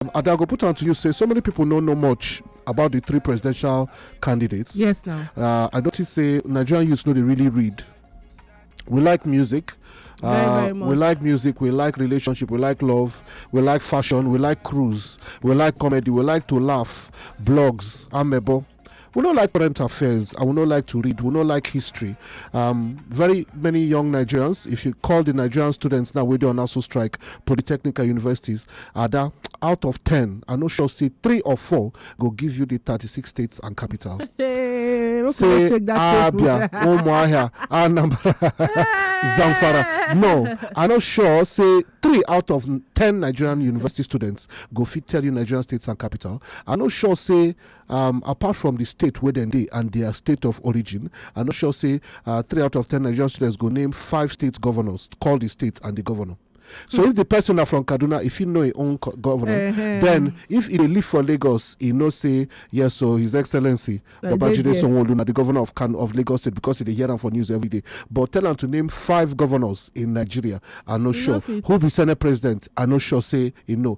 And I go put on to you say so many people don't know much about the three presidential candidates. Yes, now. Uh, I notice say Nigerian youths know they really read. We like music. Very, uh, very we like music, we like relationship, we like love, we like fashion, we like cruise, we like comedy, we like to laugh, blogs, amebo, we don't like current affairs and we don't like to read we don't like history um, very many young nigerians if you call the nigerian students now we do an also strike polytechnical universities are that out of 10 i no sure say three or four go give you the 36 states and capital say abia umuahia anambra zamfara no i no sure say three out of 10 nigerian university students go fit tell you nigerian states and capital i no sure say um apart from di state wey dem dey and dia state of origin i no sure say uh, three out of ten nigerian students go name five state governors call di state and di governor so if di person na from kaduna if you know im own governor then if e dey live for lagos e know say yes so his excellency babajide sanwo-olu na di governor of kano of lagos state because e dey hear am for news every day but tell am to name five governors in nigeria i no sure who be senate president i no sure say e know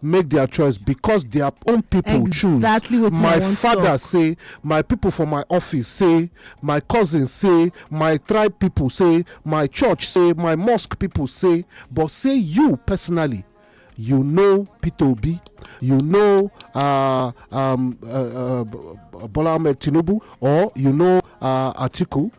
make their choice because their own people choose exactly what my father say my people for my office say my cousin say my tribe people say my church say my mosque people say but say you personally you know peter obi you know uh, um, uh, uh, bola ahmed tinubu or you know uh, atiku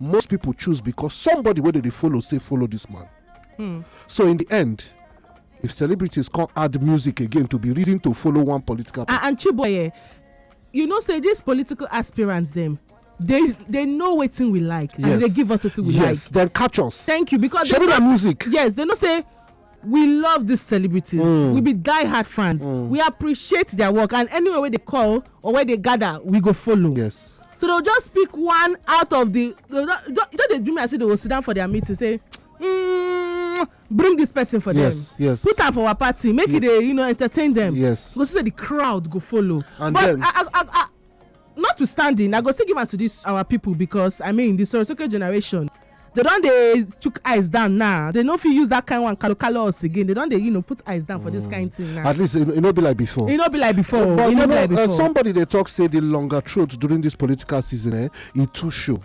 most people choose because somebody wey dem dey follow say follow this man hmm. so in the end if celebrities come add music again to be reason to follow one political party. and chiboye you know say these political aspirants dem they they know wetin we like and they give us wetin we like yes then catch us thank you because shebi na music yes they know say we love these celebrities mm. we be die hard fans mm. we appreciate their work and anywhere wey they call or where they gather we go follow yes so they'll just pick one out of the you know they do me as if they will sit down for their meeting say mm, bring this person for yes, them yes put am for our party make yes. it dey you know entertain them yes go see say the crowd go follow and but then, I, I, I, I, notwithstanding i go still give am to this our people because i mean the sorosoke generation they don dey chook eyes down now they no fit use that kind one kalo kalo us again they don dey you know put eyes down for this kind mm. thing now. at least e no be like before. e no be like before oh, but e no be like uh, before. somebody dey talk say the longer throat during this political season eh, e too show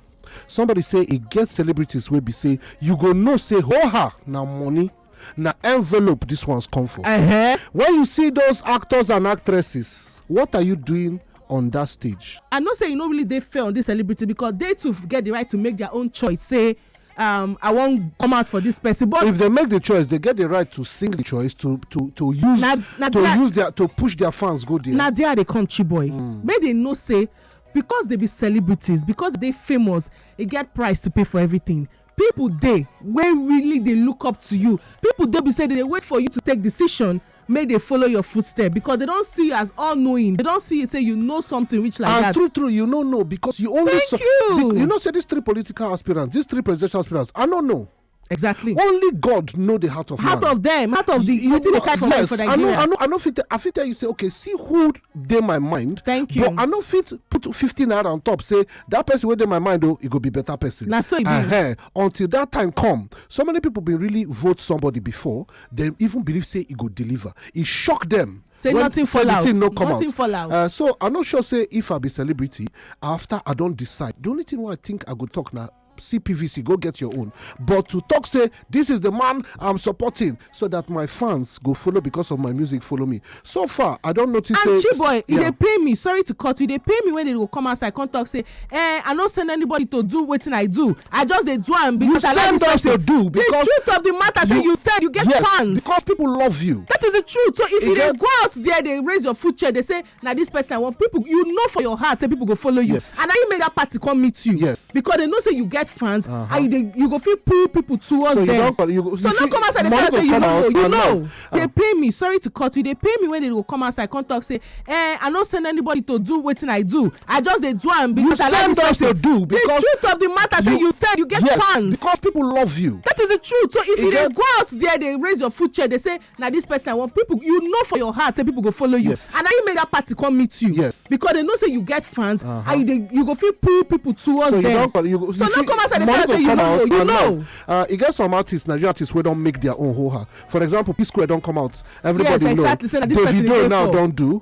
somebody say e get celebrities wey be say you go know say ho ha na money na envelope this ones come for uh-huh. when you see those actors and actresses what are you doing on that stage i know say you no really dey fair on this celebrity because they too get the right to make their own choice say um, I won't come out for this person. But if they make the choice, they get the right to sing the choice to to to use na, na to use their to push their fans go there. Na there they come, boy. Mm. May they know say because they be celebrities, because they famous, they get price to pay for everything. People dey wey really dey look up to you, people dey be say dem dey wait for you to take decision make dem follow your footstep because dem don see you as all knowing, dem don see you say you know something reach like that. And true true you no know because you only Thank you. you know say these three political aspirants, these three presidential aspirants, I no know. Exactly. Only God know the heart of heart man. of them, heart of the wetin dey fight for yes, for Nigeria. I know, I know, I know fit, I fit tell you say, okay, see who dey my mind. Thank you. But I know fit put 50 naira on top, say that person wey dey my mind oh, e go be better person na so e be uh-huh. until that time come so many people been really vote somebody before dem even believe say e go deliver e shock dem say nothing fall out no come nothing fall out uh, so i no sure say if i be celebrity after i don decide the only thing wey i think i go talk na see pvc go get your own but to talk say this is the man i'm supporting so that my fans go follow because of my music follow me so far i don't notice and say boy e dey pay me sorry to cut you dey pay me when they go come outside come talk say eh i no send anybody to do wetin i do i just dey do am because i like this person you send us to do because the truth of the matter say you send you get fans yes because people love you that is the truth so if you dey go out there dey raise your food chair dey say na this person i want people you know for your heart say people go follow you yes. and na you make that party come meet you yes because they know say you get fans uh -huh. and you dey you go feel pull people towards so them you you, so no come outside dey tell say you know you know uh -huh. they pay me sorry to cut you they pay me when they go come outside come talk say eh i no send anybody to do wetin i do i just dey do am because you i like this person you do because the truth of the matter you, say you said you get yes, fans because people love you that is the truth so if it you dey go out there dey raise your food chair dey say na this person i want people you know for your heart say people go follow you yes. and na you make that party come meet you yes because they know say you get fans uh -huh. and you dey you go feel pull people towards so them you you, you so see, no come outside and tell say you know you know uh, e get some artists nigerian artists wey don make their own ho-ha for example p square don come out everybody yes, exactly. know davido now don do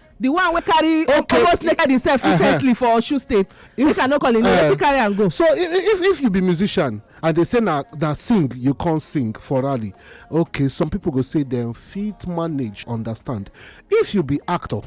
the one wey carry okay. almost naked himself uh-huh. recently for osun state if, make i no call him name uh, wetin carry am go. so if if you be musician and they say na na sing you come sing for rally okay some people go say dem fit manage understand if you be actor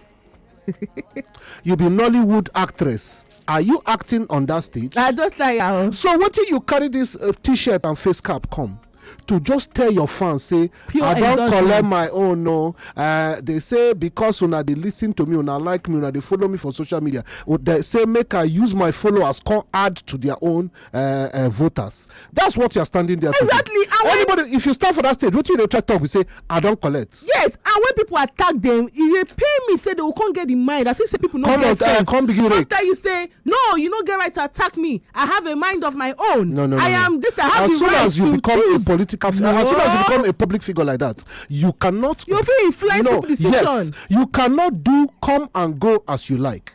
you be nollywood actress are you acting on that stage. i just try am. so wetin you carry this uh, t-shirt and face cap come. to just tell your fans say Pure i don collect my own no uh, they say because una dey listen to me una like me una dey follow me for social media they say make i use my followers come add to their own uh, uh, voters that's what you are standing there exactly to do. anybody if you stand for that stage wetin you dey try talk be say i don collect Yes, and when people attack them, e dey pain me say they go come get the mind as if say people no Come get on, uh, sense. come begin Come rake. tell you say, no, you no get right to attack me. I have a mind of my own. No, no, no. I no. am this. I have as the soon right as you to become choose. a political, no. as soon as you become a public figure like that, you cannot. You fit influence no, people decision. Yes, you cannot do come and go as you like.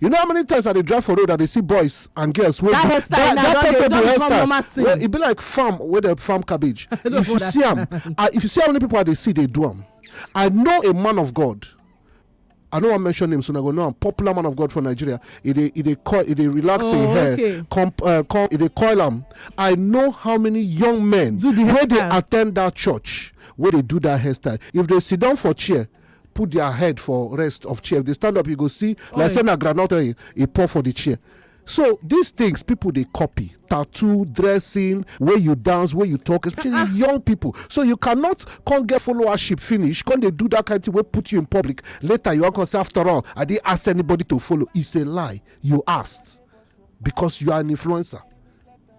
you know how many times i dey drive for road i dey see boys and girls wey that hairstyle now don dey don become normal thing well e be like farm wey dey farm cabbage if you see am ah, if you see how many people i dey see dey do am i know a man of god I don't want to mention him, so I go know. I'm popular man of God from Nigeria. It they, it they coil, it they relax oh, in hair, okay. comp, uh, com, it they coil them. I know how many young men do the where they attend that church, where they do that hairstyle. If they sit down for chair, put their head for rest of chair if they stand up you go see like say na groundnut oil e pour for the chair so these things people dey copy tattoo dressing wey you dance wey you talk especially ah, ah. young people so you cannot come get followership finish come dey do that kind thing wey put you in public later you wan come say after all i didn't ask anybody to follow it's a lie you asked because you are an influencer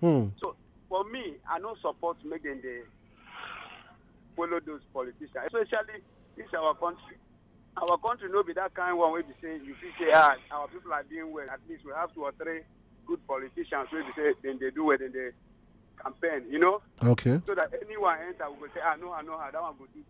Hmm. So for me, I no support make dem dey follow those politicians, especially this our country. Our country no be that kind one wey be say you fit say ah our people are doing well. At least we have two or three good politicians wey be say dem dey do well, dem dey campaign, you know, Okay. so that anyone enter we go say ah no, I know how that one go do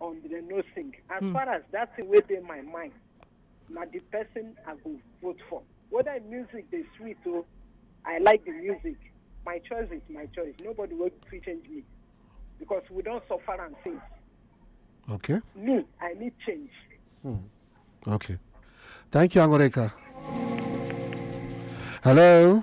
on the no sing as mm. far as that thing wey dey my mind na the person i go vote for whether music dey sweet o oh, i like the music my choice is my choice nobody wey fit change me because we don suffer am since. okay. me i need change. Hmm. okay thank you angoreka hello.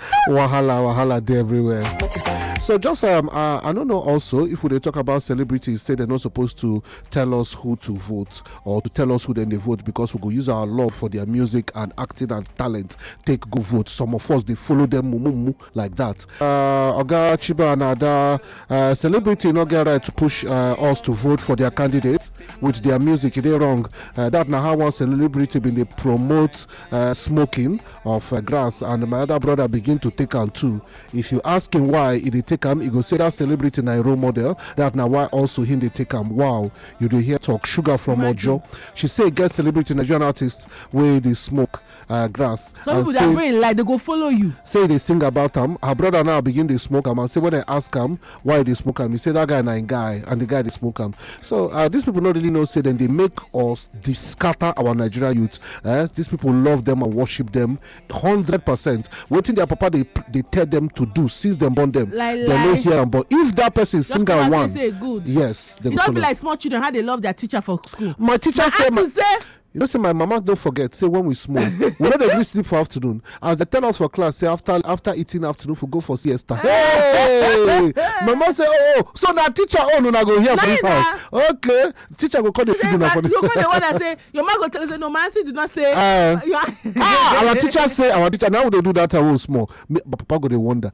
wahala wahala dey everywhere so just um, uh, i don't know also if we dey talk about celebrities say they're not supposed to tell us who to vote or to tell us who then they vote because we go use our love for their music and acting and talent take go vote some of us they follow them mumumu like that uh, oga chiba and ada uh, celebrity no get right to push uh, us to vote for their candidate with their music e dey wrong uh, that na how one celebrity bin dey promote uh, smoking of uh, grass and my other brother begin to take am too if you ask him why he dey take am he go say that celebrity na him role model that na why also him dey take am wow you dey hear talk sugar from ojo she say e get celebrity nigerian artist wey dey smoke uh, grass some and people their say brain like they go follow you say e dey sing about am her brother now begin dey smoke am and say when i ask am why you dey smoke am you say that guy na im guy and the guy dey smoke am so uh, these people no really know say dem dey make us dey scatter our nigeria youth eh? these people love them and worship them hundred percent wetin their papa dey dey tell them to do since dem born them like, dem no hear am but if that person Just sing am one yes dem go follow. e don be like small children how they love their teacher for school. my teacher my say my. You know say my mama don forget say when we small, we no dey gree sleep for afternoon as dem tell us for class say after after eating afternoon we go for siesta. Hey! Mama say oh, oh so na teacher own una go hear for this Nice, house. Okay, teacher go come dey feed una for you go the. dey wonder say your man go tell you say no my aunty did not say Eh. your Ah, our teacher say our teacher now we dey do that time wey we small. Me- Papa go dey wonder.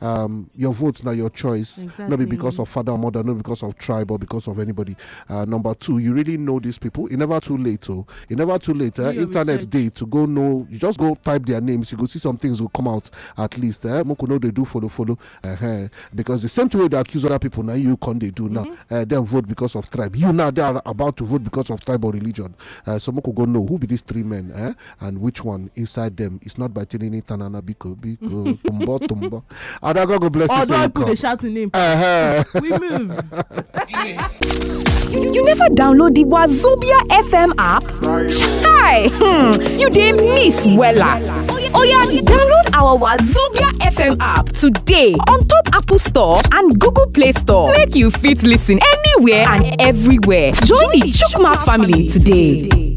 um, your vote now your choice exactly. not be because of father or mother not because of tribe or because of anybody uh, number two you really know these people it never too late oh it never too late uh, internet research. day to go know you just go type their names you go see some things will come out at least eh? Moko know they do follow follow uh-huh. because the same way they accuse other people now you can they do now mm-hmm. uh, then vote because of tribe you now they are about to vote because of tribe or religion uh, so Moko go know who be these three men eh? and which one inside them is not by tinini tanana biko biko tumbo tumbo and i go bless you although i put a shout in him uh-huh. we move you, you never download the wazobia fm app chai hmm. you dey miss wella oh yeah download our wazobia fm app today on top apple store and google play store make you fit listen anywhere and everywhere join the chook mouth family today.